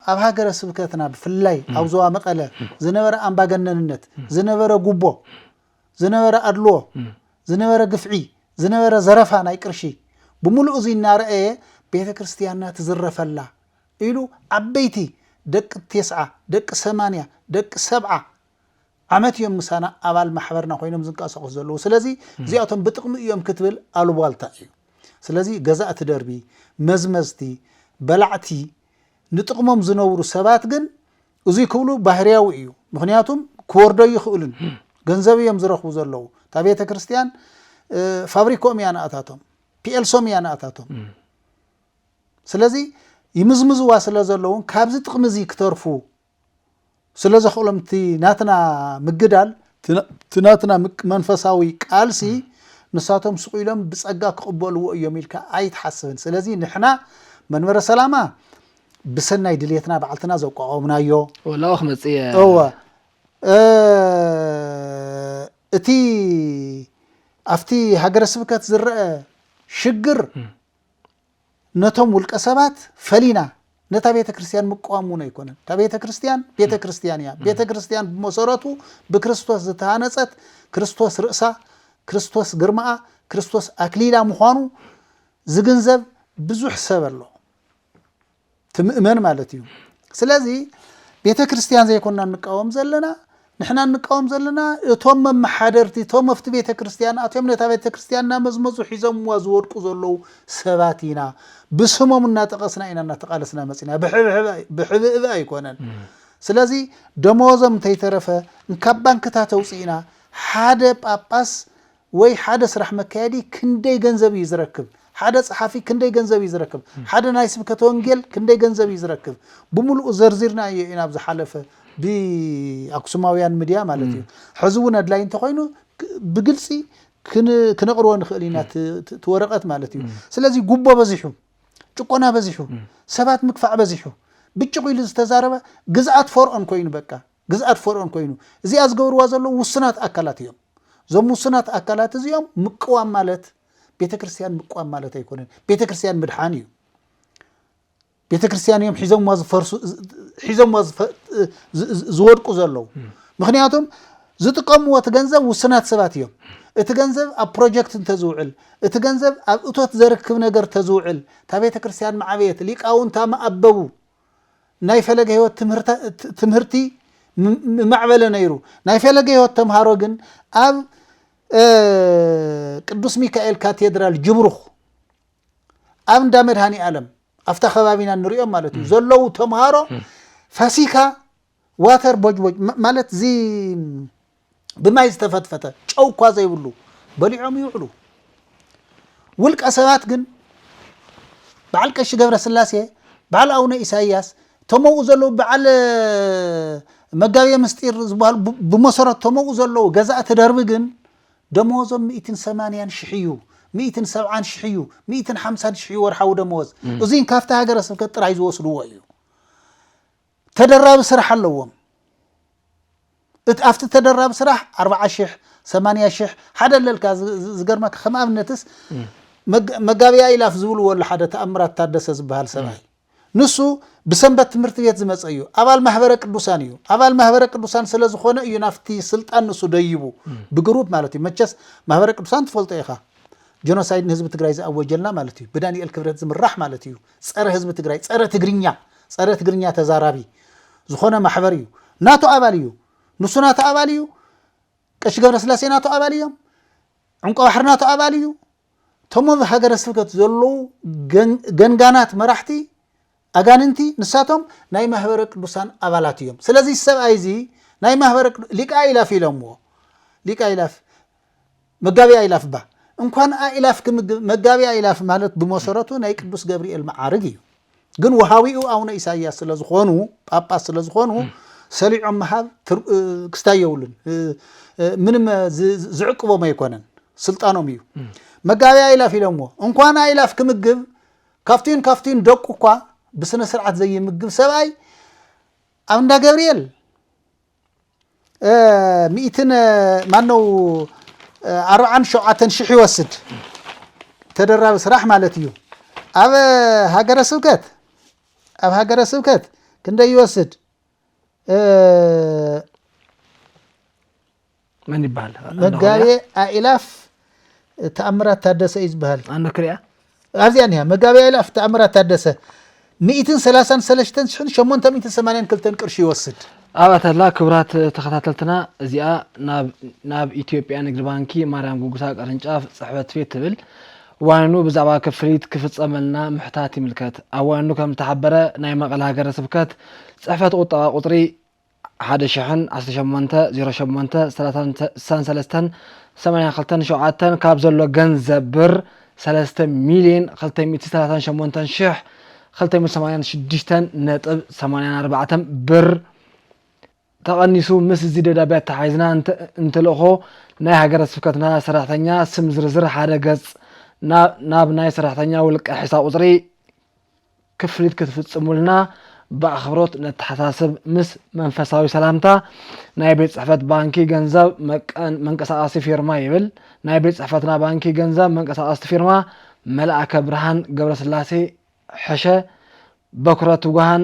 ኣብ ሃገረ ስብከትና ብፍላይ ኣብ ዞባ መቐለ ዝነበረ ኣምባገነንነት፣ ዝነበረ ጉቦ፣ ዝነበረ ኣድልዎ፣ ዝነበረ ግፍዒ፣ ዝነበረ ዘረፋ ናይ ቅርሺ ብምሉኡ እዚ እናረኣየ ቤተ ክርስቲያንና ትዝረፈላ ኢሉ ዓበይቲ ደቂ ቴስዓ፣ ደቂ ሰማንያ፣ ደቂ ሰብዓ ዓመት እዮም ምሳና ኣባል ማሕበርና ኮይኖም ዝንቀሳቐሱ ዘለዉ። ስለዚ እዚኣቶም ብጥቕሚ እዮም ክትብል ኣሉቧልታ እዩ። ስለዚ ገዛእቲ ደርቢ፣ መዝመዝቲ፣ በላዕቲ ንጥቕሞም ዝነብሩ ሰባት ግን እዙይ ክብሉ ባህርያዊ እዩ። ምኽንያቱም ክወርዶ ኣይኽእሉን። ገንዘብ እዮም ዝረኽቡ ዘለዉ። እታ ቤተ ክርስቲያን ፋብሪክኦም እያ ንኣታቶም፣ ፒኤልሶም እያ ንኣታቶም። ስለዚ ይምዝምዝዋ ስለ ዘለዉን ካብዚ ጥቕሚ እዚ ክተርፉ ስለ ዘኽእሎም እቲ ናትና ምግዳል እቲ ናትና መንፈሳዊ ቃልሲ ንሳቶም ስቕ ኢሎም ብጸጋ ክቕበልዎ እዮም ኢልካ ኣይትሓስብን። ስለዚ ንሕና መንበረ ሰላማ ብሰናይ ድልየትና ባዕልትና ዘቋቋምናዮ ወላኦ ክመጽእ እየ እወ እ፣ እቲ ኣብቲ ሃገረ ስብከት ዝረአ ሽግር ነቶም ውልቀ ሰባት ፈሊና ነታ ቤተ ክርስቲያን ምቅዋም እውን ኣይኮነን። እታ ቤተ ክርስቲያን ቤተ ክርስቲያን እያ። ቤተ ክርስቲያን ብመሰረቱ ብክርስቶስ ዝተሃነጸት ክርስቶስ ርእሳ፣ ክርስቶስ ግርማኣ፣ ክርስቶስ ኣክሊላ ምዃኑ ዝግንዘብ ብዙሕ ሰብ ኣሎ። ትምእመን ማለት እዩ ስለዚ ቤተ ክርስቲያን ዘይኮና እንቃወም ዘለና ንሕና እንቃወም ዘለና እቶም መመሓደርቲ እቶም ኣብቲ ቤተ ክርስቲያን ኣትዮም ነታ ቤተ ክርስቲያን እናመዝመዙ ሒዞምዋ ዝወድቁ ዘለዉ ሰባት ኢና ብስሞም እናጠቐስና ኢና እናተቓለስና መፅና ብሕብእብ ኣይኮነን ስለዚ ደመወዞም እንተይተረፈ እንካብ ባንክታት ኣውፅእና ሓደ ጳጳስ ወይ ሓደ ስራሕ መካየዲ ክንደይ ገንዘብ እዩ ዝረክብ? ሓደ ጸሓፊ ክንደይ ገንዘብ እዩ ዝረክብ? ሓደ ናይ ስብከተ ወንጌል ክንደይ ገንዘብ እዩ ዝረክብ? ብምሉኡ ዘርዚርናዮ ኢና ኣብ ዝሓለፈ ብ ኣክሱማውያን ምድያ ማለት እዩ። ሕዚ እውን ኣድላይ እንተኾይኑ ብግልጺ ክነቕርቦ ንኽእል ኢና እቲ ወረቐት ማለት እዩ። ስለዚ ጉቦ በዚሑ፣ ጭቆና በዚሑ፣ ሰባት ምግፋዕ በዚሑ፣ ብጭቕ ኢሉ ዝተዛረበ ግዝኣት ፎርኦን ኮይኑ በቃ። ግዝኣት ፈርኦን ኮይኑ እዚኣ ዝገብርዋ ዘለዉ ውሱናት ኣካላት እዮም። እዞም ውሱናት ኣካላት እዚኦም ምቅዋም ማለት ቤተ ክርስቲያን ምቅዋም ማለት ኣይኮነን። ቤተ ክርስቲያን ምድሓን እዩ። ቤተ ክርስቲያን እዮም ሒዞምዋ ዝፈርሱ ሒዞምዋ ዝፈ- ዝ- ዝ- ዝወድቁ ዘለዉ ምክንያቱም ዝጥቀምዎ እቲ ገንዘብ ውሱናት ሰባት እዮም። እቲ ገንዘብ ኣብ ፕሮጀክት እንተዝውዕል እቲ ገንዘብ ኣብ እቶት ዘርክብ ነገር ተዝውዕል እታ ቤተ ክርስቲያን መዓበየት ሊቃውንታ መኣበቡ ናይ ፈለገ ህይወት ትምህርቲ ምማዕበለ ነይሩ። ናይ ፈለገ ህይወት ተምሃሮ ግን ኣብ ቅዱስ ሚካኤል ካቴድራል ጅብሩኽ ኣብ እንዳ መድሃኒ ኣለም ኣብታ ከባቢና ንሪኦም ማለት እዩ ዘለዉ ተምሃሮ ፋሲካ ዋተር ቦጅቦጅ ማለት እዚ ብማይ ዝተፈትፈተ ጨው እኳ ዘይብሉ በሊዖም ይውዕሉ። ውልቀ ሰባት ግን በዓል ቀሺ ገብረ ስላሴ በዓል ኣቡነ ኢሳይያስ እቶም ኣብኡ ዘለዉ በዓል መጋቤ ምስጢር ዝበሃሉ ብመሰረት እቶም ኣብኡ ዘለዉ ገዛእቲ ደርቢ ግን ደመወዞም ሚእትን ሰማንያን ሽሕ እዩ ሚእትን ሰብዓን ሽሕ እዩ ሚእትን ሓምሳን ሽሕ እዩ ወርሓዊ ደመወዝ እዙይን ካብቲ ሃገረ ስብከት ጥራይ ዝወስድዎ እዩ ተደራቢ ስራሕ ኣለዎም እቲ ኣብቲ ተደራቢ ስራሕ ኣርብዓ ሽሕ ሰማንያ ሽሕ ሓደ ኣለልካ ዝገርመካ ከም ኣብነትስ መጋቢያ ኢላፍ ዝብልዎ ኣሎ ሓደ ተኣምራት ታደሰ ዝበሃል ሰብኣይ ንሱ ብሰንበት ትምህርቲ ቤት ዝመፀ እዩ ኣባል ማህበረ ቅዱሳን እዩ ኣባል ማህበረ ቅዱሳን ስለ ዝኾነ እዩ ናብቲ ስልጣን ንሱ ደይቡ ብግሩፕ ማለት እዩ መቸስ ማህበረ ቅዱሳን ትፈልጦ ኢኻ ጀኖሳይድ ንህዝቢ ትግራይ ዝኣወጀልና ማለት እዩ ብዳንኤል ክብረት ዝምራሕ ማለት እዩ ፀረ ህዝቢ ትግራይ ፀረ ትግርኛ ፀረ ትግርኛ ተዛራቢ ዝኾነ ማሕበር እዩ ናቱ ኣባል እዩ ንሱ ናቱ ኣባል እዩ ቀሺ ገብረስላሴ ናቱ ኣባል እዮም ዕንቆ ባሕሪ ናቱ ኣባል እዩ እቶም ኣብ ሃገረ ስብከት ዘለዉ ገንጋናት መራሕቲ ኣጋንንቲ ንሳቶም ናይ ማህበረ ቅዱሳን ኣባላት እዮም ስለዚ ሰብኣይ እዚ ናይ ማህበረ ሊቃ ኢላፍ ኢሎምዎ ሊቃ ኢላፍ መጋቤ ኣእላፍ እባ እንኳን ኣእላፍ ክምግብ መጋቤ ኣእላፍ ማለት ብመሰረቱ ናይ ቅዱስ ገብርኤል መዓርግ እዩ። ግን ውሃዊኡ ኣቡነ ኢሳያስ ስለዝኾኑ ጳጳስ ስለዝኾኑ ሰሊዖም ምሃብ ክስታይ የብሉን። ምንም ዝዕቅቦም ኣይኮነን ስልጣኖም እዩ። መጋቤ ኣእላፍ ኢሎምዎ እንኳን ኣእላፍ ክምግብ ካብቲን ካብቲን ደቁ እኳ ብስነ ስርዓት ዘይምግብ ሰብኣይ ኣብ እንዳ ገብርኤል ሚእትን ማነው ኣርብዓን ሸውዓተን ሽሕ ይወስድ ተደራቢ ስራሕ ማለት እዩ ኣብ ሃገረ ስብከት ኣብ ሃገረ ስብከት ክንደይ ይወስድ መን ይበሃል? መጋቤ ኣእላፍ ተኣምራት ታደሰ እዩ ዝበሃል። ኣነ ክሪኣ ኣብዚኣ ኒሃ መጋቤ ኣእላፍ ተኣምራት ታደሰ ሚእትን ሰላሳን ሰለስተን ሽሕን ሸሞንተ ሚእትን ሰማንያን ክልተን ቅርሺ ይወስድ። ኣብኣ ተላ ክብራት ተኸታተልትና እዚኣ ናብ ኢትዮጵያ ንግድ ባንኪ ማርያም ጉጉሳ ቅርንጫፍ ጽሕፈት ቤት ትብል ዋኒኑ ብዛዕባ ክፍሊት ክፍጸመልና ምሕታት ይምልከት። ኣብ ዋኒኑ ከም ዝተሓበረ ናይ መቐለ ሃገረ ስብከት ጽሕፈት ቁጠባ ቁጽሪ ሓደ ሽሕን ዓሰርተ ሸሞንተ፣ ዜሮ ሸሞንተ፣ ሰላሳን ስሳን ሰለስተን፣ ሰማንያ ክልተን ሸውዓተን ካብ ዘሎ ገንዘብ ብር ሰለስተ ሚልየን ክልተ ሚእቲ ሰላሳን ሸሞንተን ሽሕ ክልተ ሚእቲ ሰማንያን ሽዱሽተን ነጥብ ሰማንያን ኣርባዕተን ብር ተቐኒሱ ምስ እዚ ደብዳቤ ኣተሓሒዝና እንትልእኮ ናይ ሃገረ ስብከትና ሰራሕተኛ ስም ዝርዝር ሓደ ገጽ ናብ ናይ ሰራሕተኛ ውልቀ ሒሳብ ቁጽሪ ክፍሊት ክትፍጽሙልና ብኣኽብሮት ነተሓሳስብ ምስ መንፈሳዊ ሰላምታ ናይ ቤት ጽሕፈት ባንኪ ገንዘብ መንቀሳቐሲ ፊርማ ይብል ናይ ቤት ጽሕፈትና ባንኪ ገንዘብ መንቀሳቐስቲ ፊርማ መልኣከ ብርሃን ገብረስላሴ ሕሸ በኩረ ትጉሃን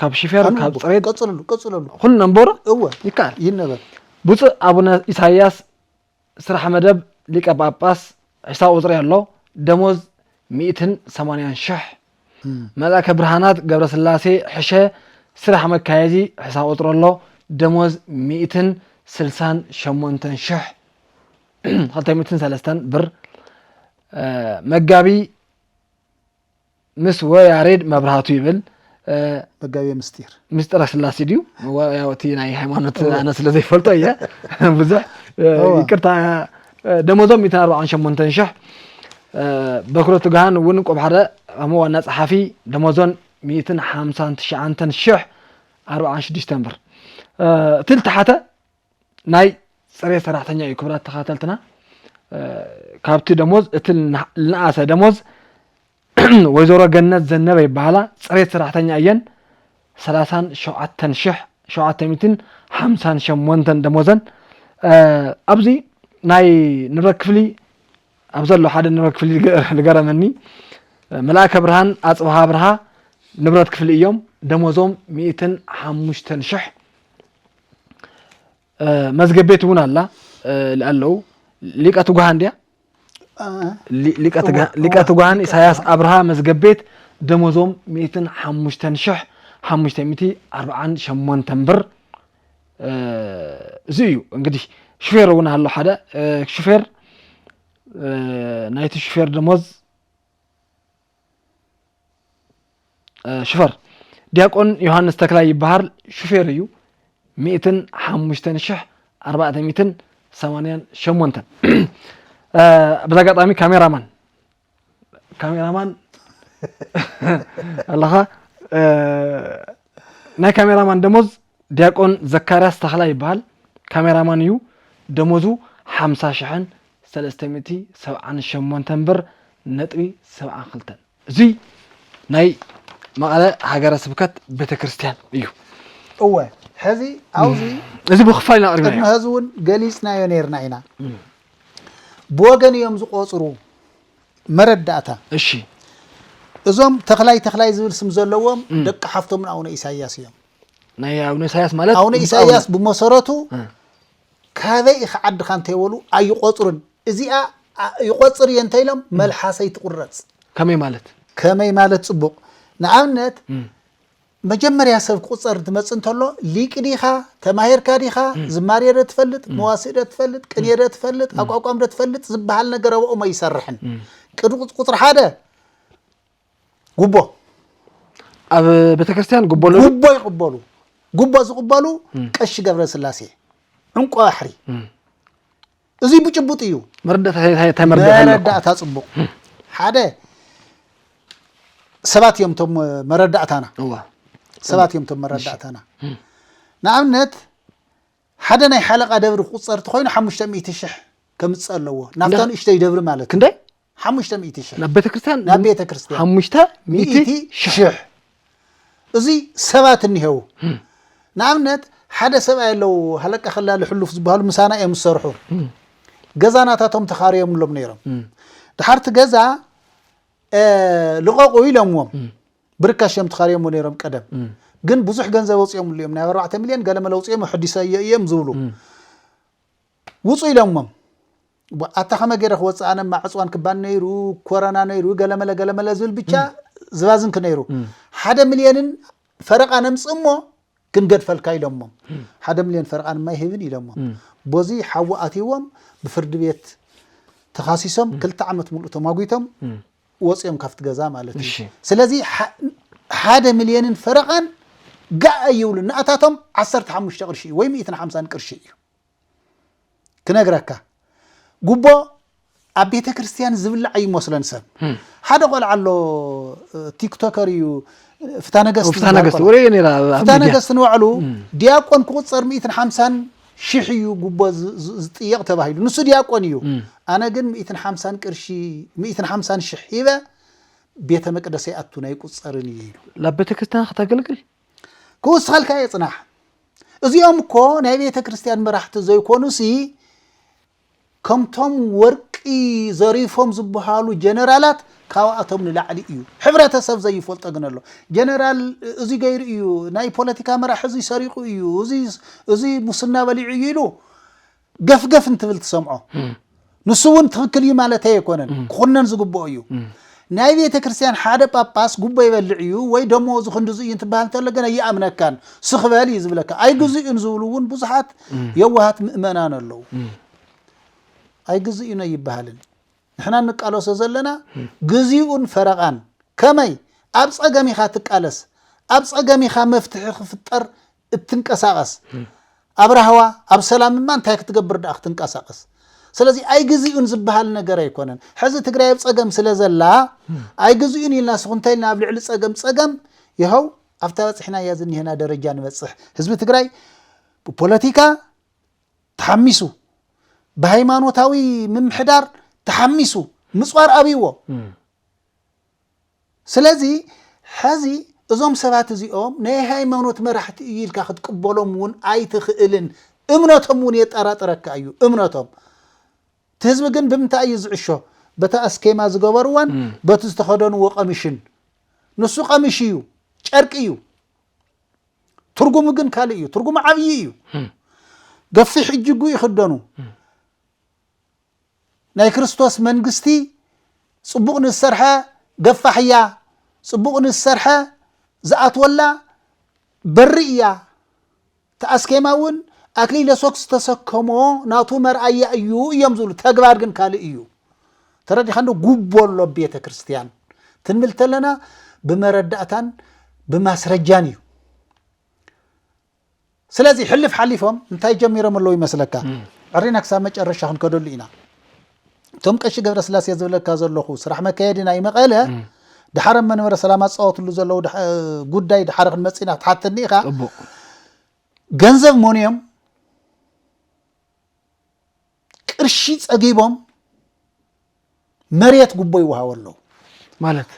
ካብ ሽፌር ኣነ ካብ ኣቦ ፅሬት ቀፅለሉ ቀፅለሉ ኩሉ ነንበሮ እወ ይከኣል ይነበብ ብፁዕ ኣቡነ ኢሳይያስ ስራሕ መደብ ሊቀ ጳጳስ ዕስራ ቁጽሪ ኣሎ ደሞዝ ሚእትን ሰማንያን ሽሕ መልኣከ ብርሃናት ገብረስላሴ ሕሸ ስራሕ መካየዲ ዕስራ ቁጽሪ ኣሎ ደሞዝ ሚእትን ስልሳን ሸሞንተን ሽሕ ክልተ ሚእትን ሰለስተን ብር እ፣ መጋቢ ምስ ወያሬድ መብራህቱ ይብል መጋቤ ምስጢር ምስጢረ ስላሴ ድዩ ያው እቲ ናይ ሃይማኖት ኣነ ስለ ዘይፈልጦ እየ ብዙሕ ይቅርታ ደሞዞም 148 ሽሕ በክሮ ትግሃን እውን ቆብ ሓደ ከም ዋና ጸሓፊ ደሞዞን 159 ሽሕ 46 ብር እቲ ዝተሓተ ናይ ፅሬት ሰራሕተኛ እዩ ክብራት ተኸታተልትና ካብቲ ደሞዝ እቲ ልንኣሰ ደሞዝ ወይዘሮ ገነት ዘነበ ይበሃላ ፅሬት ሰራሕተኛ እየን ሰላሳን ሸውዓተን ሽሕ ሸውዓተ ሚትን ሓምሳን ሸሞንተን ደሞዘን ኣብዚ ናይ ንብረት ክፍሊ ኣብ ዘሎ ሓደ ንብረት ክፍሊ ዝገረመኒ መልኣከ ብርሃን ኣፅብሃ ብርሃ ንብረት ክፍሊ እዮም ደሞዞም ሚእትን ሓሙሽተን ሽሕ መዝገብ ቤት እውን ኣላ ኣለዉ ሊቀ ትጉሃን ድያ ሊቀ ትጉሃን ኢሳያስ ኣብርሃ መዝገብ ቤት ደሞዞም 105548 ብር እዚ እዩ እንግዲህ ሹፌር እውን ኣሎ ሓደ ሹፌር ናይቲ ሹፌር ደሞዝ ሽፈር ዲያቆን ዮሃንስ ተክላይ ይበሃል ሹፌር እዩ ሚእትን ሓሙሽተን ሽሕ ኣርባዕተ ሚእትን ሰማንያን ሸሞንተን በዛ ኣጋጣሚ ካሜራማን ካሜራማን ኣለኻ ናይ ካሜራማን ደሞዝ ዲያቆን ዘካርያስ ተኽላይ ይበሃል። ካሜራማን እዩ። ደሞዙ ሓምሳ ሽሕን ሰለስተ ሚእቲ ሰብዓን ሸሞንተን ብር ነጥቢ ሰብዓን ክልተን። እዙይ ናይ መቐለ ሃገረ ስብከት ቤተ ክርስቲያን እዩ። እወ ሕዚ ኣብዚ እዚ ብክፋል ኢና ቅድሚ ኣቕሪብናዮ። ሕዚ እውን ገሊፅናዮ ነርና ኢና። ብወገን እዮም ዝቆፅሩ መረዳእታ፣ እሺ እዞም ተኽላይ ተኽላይ ዝብል ስም ዘለዎም ደቂ ሓፍቶም ንኣቡነ ኢሳይያስ እዮም። ናይ ኣቡነ ኢሳያስ ማለት ኣቡነ ብፁዕ ኢሳይያስ ብመሰረቱ እ። ካበይ ኢኺ ዓድኻ እንተይበሉ ኣይቖፅሩን። እዚኣ ኣ- ይቖፅር እየ እንተኢሎም መልሓሰይ ትቑረፅ። ከመይ ማለት ከመይ ማለት ፅቡቕ ንኣብነት መጀመርያ ሰብ ክቁጸር እንትመጽእ እንተሎ ሊቅ ዲኻ ተማሂርካ ዲኻ ዝማሬ ዶ ትፈልጥ መዋስእ ዶ ትፈልጥ ቅኔ ዶ ትፈልጥ ኣቋቋም ዶ ትፈልጥ ዝበሃል ነገር ኣብኦም ኣይሰርሕን ቅድሚ ቁጽሪ ሓደ ጉቦ ኣብ ቤተክርስትያን ጉቦ ኣለዎ ጉቦ ይቕበሉ ጉቦ ዝቕበሉ ቀሺ ገብረስላሴ ዕንቆ ባሕሪ እዙይ ብጭቡጥ እዩ መረዳእታ ፅቡቕ ሓደ ሰባት እዮም ቶም መረዳእታና ሰባት እዮም ቶም መረዳእታና ንኣብነት ሓደ ናይ ሓለቃ ደብሪ ክቁፀር እንተኮይኑ ሓሙሽተ ሚእቲ ሽሕ ከምፅእ ኣለዎ ናብታ ንእሽተይ ደብሪ ማለት ክንደይ ሓሙሽተ ሚእቲ ሽሕ ናብ ቤተ ክርስቲያን ናብ ቤተ ክርስቲያን ሓሙሽተ ሚእቲ ሚእቲ ሽሕ ሽሕ እዚ ሰባት እኒሄው ንኣብነት ሓደ ሰብኣይ ኣለው ሃለቃ ከላሊ ሕሉፍ ዝበሃሉ ምሳና እዮም ዝሰርሑ ገዛ ናታቶም ተኻርዮምሎም ነይሮም ድሓር እቲ ገዛ እ፣ ልቐቑ ኢሎምዎም ብርካሽ እዮም ተኻርዮምዎ ነይሮም ቀደም ግን ብዙሕ ገንዘብ ኣውፅኦምሉ እዮም ናይ ኣርባዕተ ሚልዮን ገለ መለ ኣውፅኦም ኣሕዲሰዮ እዮም ዝብሉ ውፁ ኢሎምዎም ኣታ ከመ ገይረ ክወፅእ ኣነ ማዕፅዋን ክባን ነይሩ ኮረና ነይሩ ገለመለ ገለመለ ዝብል ብቻ ዝባዝንክ ነይሩ ሓደ ሚልዮንን ፈረቃ ነምፅ እሞ ክንገድፈልካ ኢሎሞ ሓደ ሚልዮን ፈረቃ ድማ ይህብን ኢሎሞ ቦዚ ሓዊ ኣትዎም ብፍርዲ ቤት ተኻሲሶም ክልተ ዓመት ሙሉእ ተማጒቶም ወፂኦም ካብቲ ገዛ ማለት እዩ ስለዚ ሓደ ሚልዮንን ፈረቃን ጋእ ኣይብሉ ንኣታቶም ዓሰርተ ሓሙሽተ ቅርሺ እዩ ወይ ሚእትን ሓምሳን ቅርሺ እዩ ክነግረካ ጉቦ ኣብ ቤተ ክርስቲያን ዝብላዕ ይመስለን ሰብ ሓደ ቆልዓ ኣሎ ቲክቶከር እዩ ፍታ ነገስት ፍታ ነገስት ወሬ ነራ ፍታ ነገስት ንባዕሉ ዲያቆን ክቁፀር ሚእትን ሓምሳን ሽሕ እዩ ጉቦ ዝጥየቕ ተባሂሉ ንሱ ዲያቆን እዩ ኣነ ግን ሚእትን ሓምሳን ቅርሺ ሚእትን ሓምሳን ሽሕ ሂበ ቤተ መቅደሰ ይኣቱን ኣይቁፀርን እዩ ኢሉ ናብ ቤተ ክርስቲያን ክተገልግል ክውስኸልካ እየ ፅናሕ እዚኦም እኮ ናይ ቤተ ክርስቲያን መራሕቲ ዘይኮኑሲ ከምቶም ወርቂ ዘሪፎም ዝበሃሉ ጀነራላት ካብኣቶም ንላዕሊ እዩ ሕብረተሰብ ዘይፈልጦ ግን ኣሎ ጀነራል እዚ ገይሩ እዩ ናይ ፖለቲካ መራሕ እዚ ሰሪቑ እዩ እዚ ሙስና በሊዑ እዩ ኢሉ ገፍገፍ እንትብል ትሰምዖ። ንሱ እውን ትኽክል እዩ ማለተይ ኣይኮነን፣ ክኹነን ዝግብኦ እዩ። ናይ ቤተ ክርስቲያን ሓደ ጳጳስ ጉቦ ይበልዕ እዩ ወይ ደመወዙ ክንድዚ እዩ እንትበሃል እንተሎ ግን ኣይኣምነካን፣ ስኽ በል እዩ ዝብለካ። ኣይግዝኡን ዝብሉ እውን ብዙሓት የዋሃት ምእመናን ኣለዉ። ኣይግዝኡን ኣይበሃልን። ንሕና እንቃለሶ ዘለና ግዚኡን ፈረቓን። ከመይ? ኣብ ጸገም ኢኻ ትቃለስ፣ ኣብ ጸገም ኢኻ መፍትሒ ክፍጠር እትንቀሳቀስ ኣብ ራህዋ ኣብ ሰላም እማ እንታይ ክትገብር ደኣ ክትንቀሳቀስ ስለዚ ኣይግዚኡን ዝበሃል ነገር ኣይኮነን ሕዚ ትግራይ ኣብ ፀገም ስለ ዘላ ኣይግዚኡን ኢልና ስኹንተ ኢልና ኣብ ልዕሊ ፀገም ፀገም ይኸው ኣብታ በፅሕናያ ዝኒሀና ደረጃ ንበፅሕ ህዝቢ ትግራይ ብፖለቲካ ተሓሚሱ ብሃይማኖታዊ ምምሕዳር ተሓሚሱ ምፅዋር ኣብይዎ ስለዚ ሐዚ እዞም ሰባት እዚኦም ናይ ሃይማኖት መራሕቲ እዩ ኢልካ ክትቅበሎም እውን ኣይትኽእልን። እምነቶም እውን የጠራጥረካ እዩ እምነቶም። እቲ ህዝቢ ግን ብምንታይ እዩ ዝዕሾ? በታ ኣስኬማ ዝገበርዋን በቲ ዝተኸደንዎ ቀሚሽን። ንሱ ቀሚሽ እዩ፣ ጨርቂ እዩ። ትርጉሙ ግን ካልእ እዩ። ትርጉሙ ዓብዪ እዩ። ገፊሕ እጅጉ ይኽደኑ። ናይ ክርስቶስ መንግስቲ ጽቡቕ ንዝሰርሐ ገፋሕ እያ፣ ጽቡቕ ንዝሰርሐ ዝኣትወላ በሪ እያ። እቲ ኣስኬማ እውን ኣክሊለ ሶክ ዝተሰከሞ ናቱ መርኣያ እዩ እዮም ዝብሉ፣ ተግባር ግን ካልእ እዩ። ተረዲኻ እንዶ ጉቦ ኣሎ ኣብ ቤተ ክርስቲያን ትንብል ተለና ብመረዳእታን ብማስረጃን እዩ። ስለዚ ሕልፍ ሓሊፎም እንታይ ጀሚሮም ኣለዉ ይመስለካ ዕሪና ክሳብ መጨረሻ ክንከደሉ ኢና እቶም ቀሺ ገብረ ስላሴ ዝብለካ ዘለኹ ስራሕ መካየዲ ናይ መቐለ ድሓር ኣብ መንበረ ሰላማ ዝፃወትሉ ዘለዉ ጉዳይ ድሓር ክንመፅእ ኢና ክትሓተኒ ኢኻ ገንዘብ ሞንዮም ቅርሺ ፀጊቦም መሬት ጉቦ ይወሃቦ ኣለዉ ማለት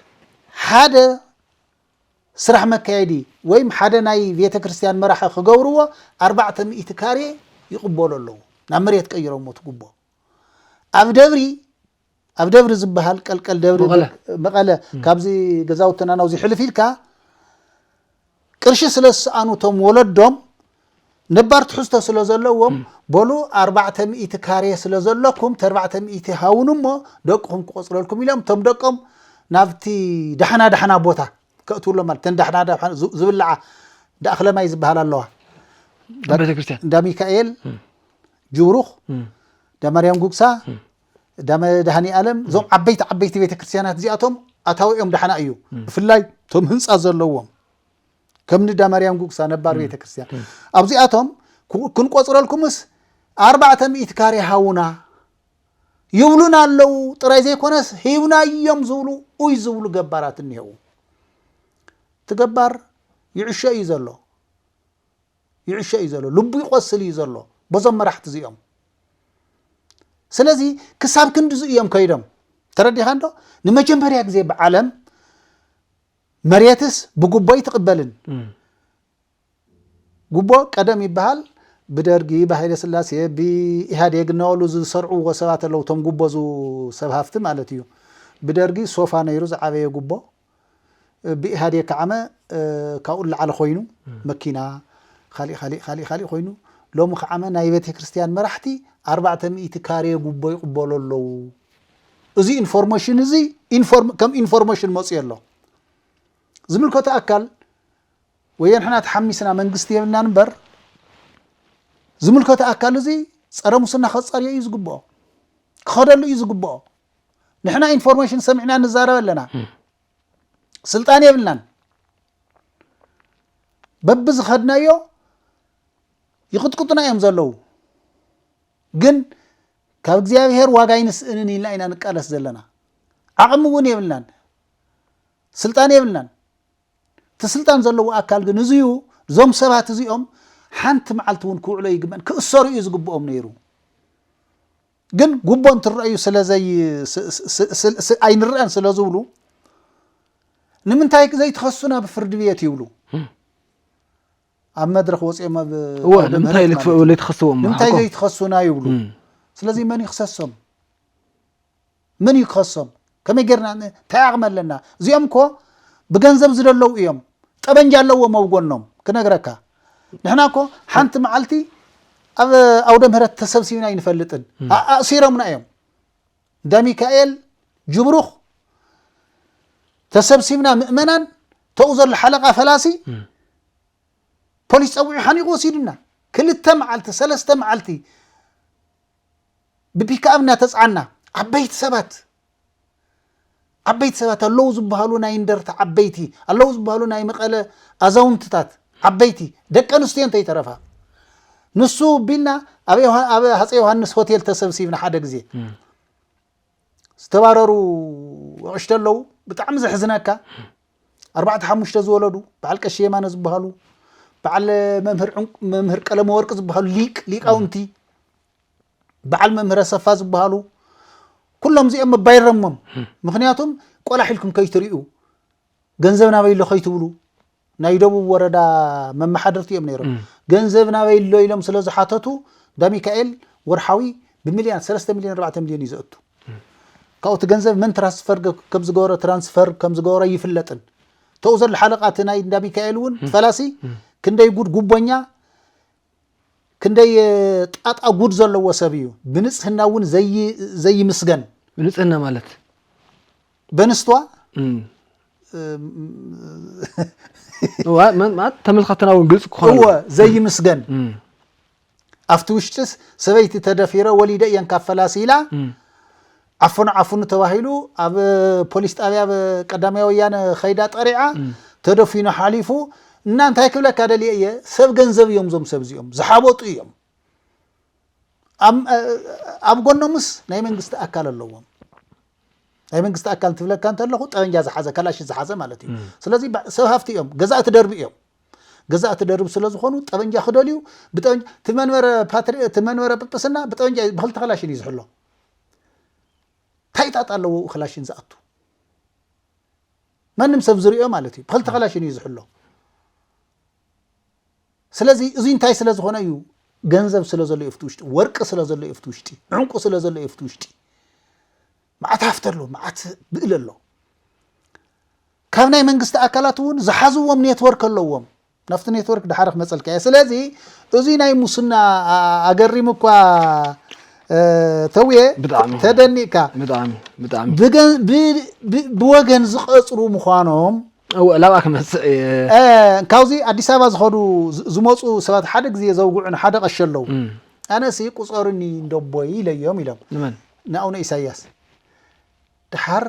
ሓደ ስራሕ መካየዲ ወይም ሓደ ናይ ቤተክርስትያን መራሒ ክገብርዎ ኣርባዕተ ሚእቲ ካሬ ይቅበሉ ኣለዉ ናብ መሬት ቀይሮሞ እቲ ጉቦ ኣብ ደብሪ ኣብ ደብሪ ዝበሃል ቀልቀል ደብሪ መቐለ። መቐለ ካብዚ ገዛውትና ናብዚ ሕልፍ ኢልካ ቅርሺ ስለ ዝሰኣኑ እቶም ወለዶም ነባር ትሕዝቶ ስለ ዘለዎም በሉ ኣርባዕተ ሚእቲ ካሬ ስለ ዘለኩም ተርባዕተ ሚእቲ ሃቡኒ እሞ ደቅኹም ክቆጽረልኩም ኢሎም እቶም ደቆም ናብቲ ዳሕና ዳሕና ቦታ ከእትውሎም ማለት እተን ዳሕና ዳሕና ዝ- ዝብልዓ እንዳ ኣኽለማይ ዝበሃላ ኣለዋ ኣብ ቤተ ክርስቲያን እንዳ ሚካኤል ጅብሩኽ እንዳ ማርያም ጉግሳ እንዳ መድሃኒ ኣለም እዞም ዓበይቲ ዓበይቲ ቤተ ክርስቲያናት እዚኣቶም ኣታዊኦም ዳሕና እዩ ብፍላይ እቶም ህንፃ ዘለዎም ከም ንዳማርያም ጉግሳ ነባር ቤተ ክርስቲያን ኣብዚኣቶም ክንቆፅረልኩምስ ኣርባዕተ ሚእቲ ካሬ ሃውና ይብሉና ኣለዉ ጥራይ ዘይኮነስ ሂብና እዮም ዝብሉ ኡይ ዝብሉ ገባራት እኒሄው ትገባር ይዕሾ እዩ ዘሎ ይዕሾ እዩ ዘሎ ልቡ ይቆስል እዩ ዘሎ በዞም መራሕቲ እዚኦም ስለዚ ክሳብ ክንድዚ እዮም ከይዶም ተረዲኻ እንዶ ንመጀመርያ ግዜ ብዓለም መሬትስ ብጉቦ ኣይትቅበልን ጉቦ ቀደም ይበሃል ብደርጊ ብሃይለ ስላሴ ብኢህዴግ እናበሉ ዝሰርዕዎ ሰባት ኣለው እቶም ጉቦ ሰብ ሃፍቲ ማለት እዩ ብደርጊ ሶፋ ነይሩ ዝዓበየ ጉቦ ብኢህዴግ ከዓመ ካብኡ ላዕሊ ኮይኑ መኪና ካሊእ ካሊእ ካሊእ ካሊእ ኮይኑ ሎሚ ከዓመ ናይ ቤተ ክርስቲያን መራሕቲ ኣርባዕተ ሚእቲ ካሬ ጉቦ ይቕበሉ ኣለው እዚ ኢንፎርሞሽን እዚ ከም ኢንፎርሞሽን መፅዮ ኣሎ ዝምልከቶ ኣካል ወየ ንሕና ተሓሚስና መንግስቲ የብልናን እምበር ዝምልከቶ ኣካል እዚ ፀረ ሙስና ከፃርዮ እዩ ዝግብኦ ክኸደሉ እዩ ዝግብኦ ንሕና ኢንፎርሜሽን ሰሚዕና ንዛረብ ኣለና ስልጣን የብልናን በቢ ዝኸድናዮ ይቕጥቅጡና እዮም ዘለዉ ግን ካብ እግዚኣብሔር ዋጋ ኣይንስእንን ኢልና ኢና ንቃለስ ዘለና ዓቕሚ እውን የብልናን ስልጣን የብልናን እቲ ስልጣን ዘለዎ ኣካል ግን እዚዩ እዞም ሰባት እዚኦም ሓንቲ መዓልቲ እውን ክውዕሎ ይግበን ክእሰሩ እዩ ዝግብኦም ነይሩ ግን ጉቦ እንትረአዩ ስለዘይ ኣይንረአን ስለ ዝብሉ ንምንታይ ዘይትኸሱና ብፍርዲ ቤት ይብሉ ኣብ መድረኽ ወፂኦም ኣብ እወ ኣውደ ንምንታይ ምህረት ማለት እዩ። ለይትኸስዎም ንምንታይ ሓቆም ዘይትኸሱና ይብሉ እም። ስለዚ መን እዩ ክሰሶም መን እዩ ክኸሶም ከመይ ጌርና ን- እንታይ ዓቕሚ ኣለና እዚኦም እኮ ብገንዘብ ዝደለዉ እዮም ጠበንጃ ኣለዎም ኣብ ጎኖም ክነግረካ ንሕና እኮ ሓንቲ መዓልቲ ኣብ ኣውደ ምህረት ተሰብሲብና ኣይንፈልጥን ኣ- ኣእሲሮምና እዮም እንዳ ሚካኤል ጅብሩኽ ተሰብሲብና ምእመናን ተኡ ዘሎ ሓለቓ ፈላሲ ፖሊስ ፀዊዑ ሓኒቑ ወሲዱና ክልተ መዓልቲ ሰለስተ መዓልቲ ብፒክኣብ እናተፅዓና ዓበይቲ ሰባት ዓበይቲ ሰባት ኣለዉ ዝበሃሉ ናይ እንደርታ ዓበይቲ፣ ኣለዉ ዝበሃሉ ናይ መቐለ ኣዛውንትታት ዓበይቲ፣ ደቂ ኣንስትዮን ተይተረፋ። ንሱ ቢልና ኣብ ሃፀይ ዮሃንስ ሆቴል ተሰብሲብና ሓደ ግዜ ዝተባረሩ ኣቕሽተ ኣለዉ ብጣዕሚ ዘሕዝነካ ኣርባዕተ ሓሙሽተ ዝወለዱ በዓል ቀሺ የማነ ዝበሃሉ በዓል መምህር ቀለመ ወርቂ ዝበሃሉ ሊቅ ሊቃውንቲ በዓል መምህር ኣሰፋ ዝበሃሉ ኩሎም እዚኦም መባይረሞም ምክንያቱም ቆላሕ ኢልኩም ከይትሪኡ ገንዘብ ናበይ ኣሎ ከይትብሉ ናይ ደቡብ ወረዳ መመሓደርቲ እዮም ነይሮም ገንዘብ ናበይ ኣሎ ኢሎም ስለ ዝሓተቱ ዳሚካኤል ወርሓዊ ብሚልዮን ሰለስተ ሚልዮን ኣርባዕተ ሚልዮን እዩ ዘእቱ ካብኡ እቲ ገንዘብ መን ትራንስፈር ከም ዝገበረ ትራንስፈር ከም ዝገበረ ይፍለጥን ተኡ ዘሎ ሓለቃ እቲ ናይ እንዳ ሚካኤል እውን ፈላሲ ክንደይ ጉድ ጉቦኛ ክንደይ ጣጣ ጉድ ዘለዎ ሰብ እዩ ብንጽህና እውን ዘይምስገን ብንጽህና ማለት በንስቷ ተመልካትና እውን ግልፂ ክኾነ ዘይምስገን ኣብቲ ውሽጢስ ሰበይቲ ተደፊረ ወሊደ እየን ካብ ፈላሲ ኢላ ዓፈኑ ዓፈኑ ተባሂሉ ኣብ ፖሊስ ጣብያ ብ ቀዳማይ ወያነ ከይዳ ጠሪዓ ተደፊኑ ሓሊፉ እና እንታይ ክብለካ ደልየ እየ ሰብ ገንዘብ እዮም እዞም ሰብ እዚኦም ዝሓበጡ እዮም ኣብ እ- ኣብ ጎኖምስ ናይ መንግስቲ ኣካል ኣለዎም ናይ መንግስቲ ኣካል እንትብለካ እንተለኹ ጠበንጃ ዝሓዘ ከላሽን ዝሓዘ ማለት እዩ ስለዚ ባ- ሰብ ሃፍቲ እዮም ገዛእቲ ደርቢ እዮም ገዛእቲ ደርቢ ስለ ዝኾኑ ጠበንጃ ክደልዩ ብጠበንጃ እቲ መንበረ ፓትሪ እቲ መንበረ ጵጵስና ብጠበንጃ እዩ፣ ብክልተ ከላሽን እዩ ዝሕሎ ታይ ጣጣ ኣለዎ ኡ ክላሽን ዝኣቱ ማንም ሰብ ዝሪኦ ማለት እዩ ብክልተ ክላሽን እዩ ዝሕሎ ስለዚ እዚ እንታይ ስለ ዝኾነ እዩ ገንዘብ ስለ ዘሎ እዩ ውሽጢ ወርቂ ስለ ዘሎ እዩ ውሽጢ ዕንቁ ስለ ዘሎ እዩ ውሽጢ መዓት ሃፍቲ ኣሎ መዓት ብእል ኣሎ ካብ ናይ መንግስቲ ኣካላት እውን ዝሓዝዎም ኔትወርክ ኣለዎም ናብቲ ኔትወርክ ድሓር ክመፀልካ እየ ስለዚ እዙይ ናይ ሙስና ኣገሪሙ እኳ ተውየ ተደኒቕካ ብወገን ዝቐፅሩ ምዃኖም ላብኣ ክመፅእ እየ ካብዚ ኣዲስ ኣበባ ዝኸዱ ዝመፁ ሰባት ሓደ ግዜ ዘውግዑን ሓደ ቀሺ ኣለው ኣነሲ ቁፀሩኒ እንደቦይ ኢለዮም ኢሎም ንኣቡነ ኢሳያስ ድሓር